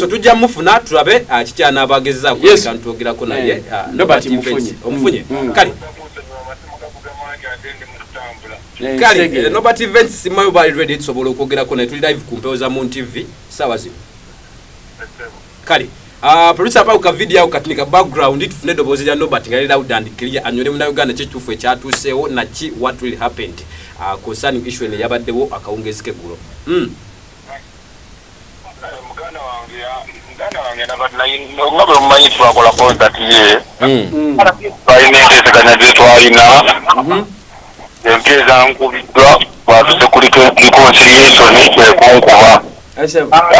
so tujja mufuna tulabe ah, kikyanaaba agezezaako yes. kantuogerako naye eh. ah, nobert mufunye omufunye mm. mm. kale eh, kale eh, nobert events simayo bali ready tusobola okwogerako naye tuli live ku mpewo za moon tv saawa zino kale ah, producer pa ka video au katnika background tufune dobozi lya nobert nga loud and clear anyole muna uganda kyekitufu ekyatuuseewo naki what will happened concerning issue ene yabaddewo akawungezike gulo mm. muganda wange muganda wange nabati naye nga bwe mumanyi twakola concert ye hmm. balina enteeseganya gye twalina mhm. empya ezankubiddwa twatuse kuli reconciliationi ekunkuba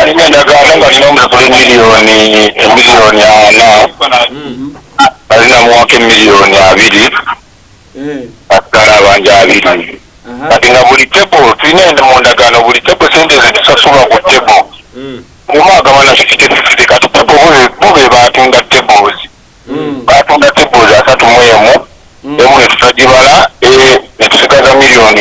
alina endagaano nga lina omusasula emiliyoni emiliyoni ana alina hmm. muwaka emiliyoni abiri atutwala eh. abanja abiri kati nga buli tebo tulina ende mu ndagaano buli tebo sente zitusasulwa ku tebo hmm. omu agaba na fifite fifite kati tebo bo be batunda tebos hmm. batunda tebos asatu mu emu hmm. emu netutagibala eh, netusigaza miliyoni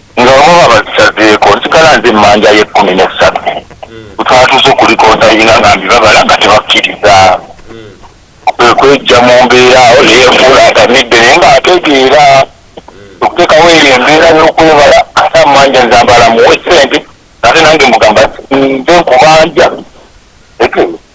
nga bamwe babazisazeeko nsigala nze emmanja y'ekkumi n'essatu hmm. twatuuse okulikonsayinga nga mbibabala nga tebakkiriza hmm. kwe kwejja mu mbeera awo neyefuula atamidde naye nga ategeera hmm. okuteekawo eyo embeera y'okwebala ate amanja nze ambala muwe ssente ate nange mugamba nze nkubanja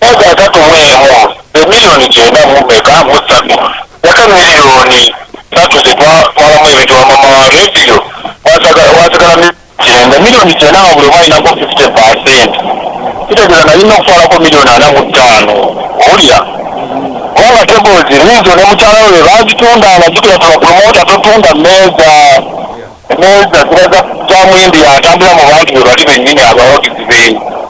Emyaka asatu mu emu, emiliyoni kyenda mu meka mu ssatu, yaka miliyoni ssatu ze twatwalamu ebintu lwa maama wa leediyo waasagala waasigala miliyoni kyenda. Miliyoni kyenda nga buli omu alinako fifite paasenti, kitegeeza nalina okutwalako miliyoni ana mu ttaano. Owulira? Kubanga teboozi liizo ne mukyala we be baagitundanga. Jjukira tuli bapulomoota, totunda mmeeza. Emmeeza ziba za za Muyindi y'atambula mu bantu be bali bennyini abawagizi be.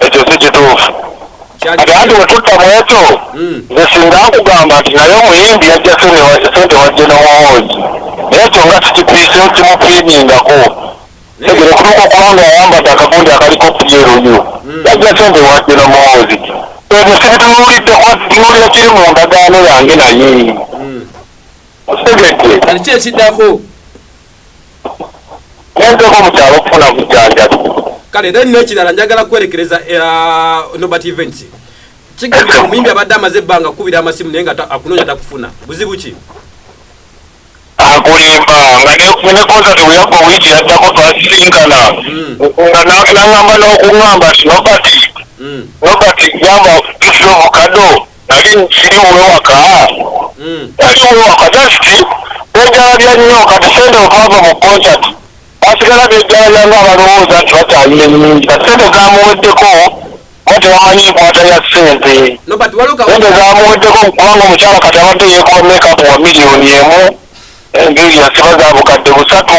ekyo si kituufu ati anti wetutta mwekyo hmm. nze singa nkugamba nti naye omuyimbi yajja sente wajje nomuwoozi naye ekyo nga sikipiise kimupiimingako tegere kutuuka okuba nga ayambadde akagundi akaliko pyeruyu hmm. yajja sente wajje nomuwoozi ebyo sibitunuulidde kuba situnulira kiri mu ndagaano yange naye hmm. okitegedde kati kyekiddako nenzeko mu kyalo okufuna bujanjabi kale then nekirala njagala kwerekereza uh, nobat events kigamba omuyimbi abadde amaze ebbanga kukubira amasimu naye nga akunoonya takufuna buzibu ki akulimba nga nekonzati weyagwa wiiki yaddako twasisinkana hmm. nga nangamba n'okuŋamba nti nobati hmm. nobati jamba tusiobukado siri wewaka hmm. siri wewaka dasiti bejalabya nnyo kati sente okava mu concert basigala bejalabya nga abalowooza nti bakyalina enyingi kati sente zamuweddeko kuba tebamanyi enkwata ya sente sente zamuweddeko kubanga omukyala kati abadde yekuba mekapu wa miliyoni emu enviiri yasiba zabukadde busatu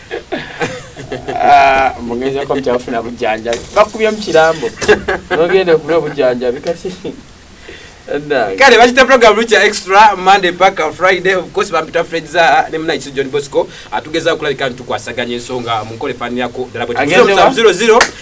Ah, mugezako mukyafuna bujanjabi bakubye mukirambo nogenda okuna obujanjabi kati kale bakita program lukya extra monday paka friday of course bampita fred za ne muna isu john bosco atugeza okulabika nti tukwasaganya ensonga munkole fani yako dala bwe 0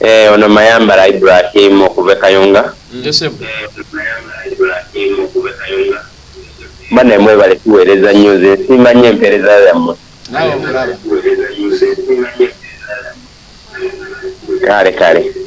Eeh ono Mayambala Ibrahim okuva e Kayunga. Nze sebbo. Eeh ono Mayambala Ibrahim okuva e Kayunga. Banaye mwebale tuwereza nyo nze nsiima nyo empereza yamwe. Nawe okulaba. Kale kale.